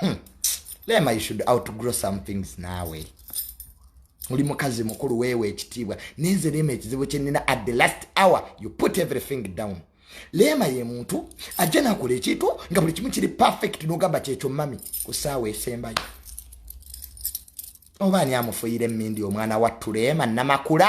hmm. lema you should out to grow some things nawe oli mukazi mukulu weewa ekitiibwa nenze lema ekizibu kyenina at the last hour you put everything down leema ye muntu ajja nakola ekintu nga buli kimu kiri perfect nogamba kyekyo mami ku saawa esembayo oba ani amufuyira emindi omwana wattu leema namakula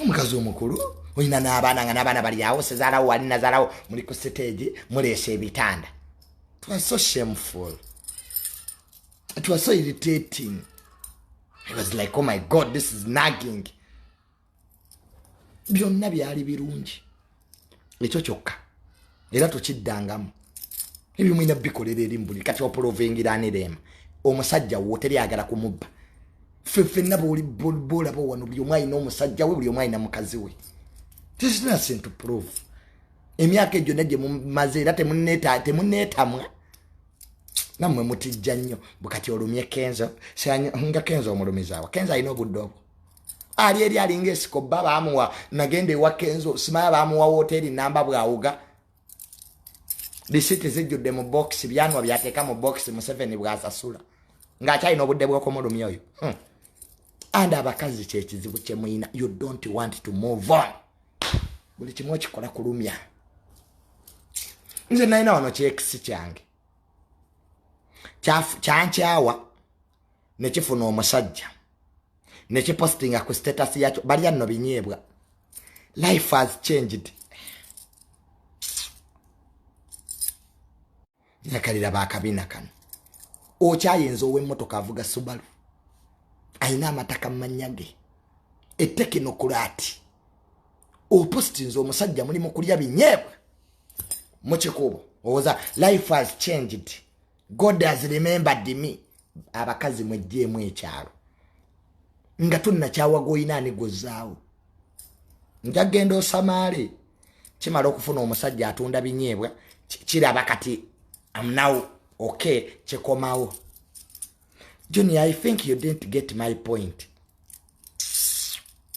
omukazi omukulu olina n'abaana nga n'abaana bali awo sezaalawo wali nazaalawo muli ku siteegi muleesa ebitanda twa so shameful twa so irritating i was like oh my god this is nagging byonna byali birungi ekyo kyokka era tukiddangamu ebyo mulina bikolera eri mubuli kati opolovengiranirema omusajja wo teri agala kumubba fefenna bolaba wano buli omu alina omusajja we buli omu alina mukazi we tisinasintu prove emyaka egyo nagye mumaze era temuneetamwa namwe mutijja nnyo bukati olumye kenzo nga kenzo omulumizaawa kenzo alina obudde obwo ali eri alinga esiko bba baamuwa nagenda ewa kenzo simaya baamuwa wooteeri namba bwawuga lisiti zijjudde mu bokisi byanwa byateeka mu bokisi museveni bwasasula ng'akyalina obudde bw'okumulumya oyo hmm. and abakazi kyekizibu kyemuyina you don't want to move on buli kimu okikola kulumya nze nalina wano kyekisi kyange kyankyawa nekifuna omusajja nekipostinga ku status yakyo balya nno binyeebwa life has changed nakalira bakabina kano okyayinza owemmotoka avuga subalu ayina amataka mumanya ge etekinokulaati opostinze omusajja muli mukulya binyeebwa mukikuubo owoza life has changed god has remembered me abakazi mwejjeemu ekyalo nga tunnakyawaga olina ani gwozaawo nja genda osamaale kimala okufuna omusajja atunda binyeebwa kiraba kati amnaw ok kikomawo junior i think you didn't get my point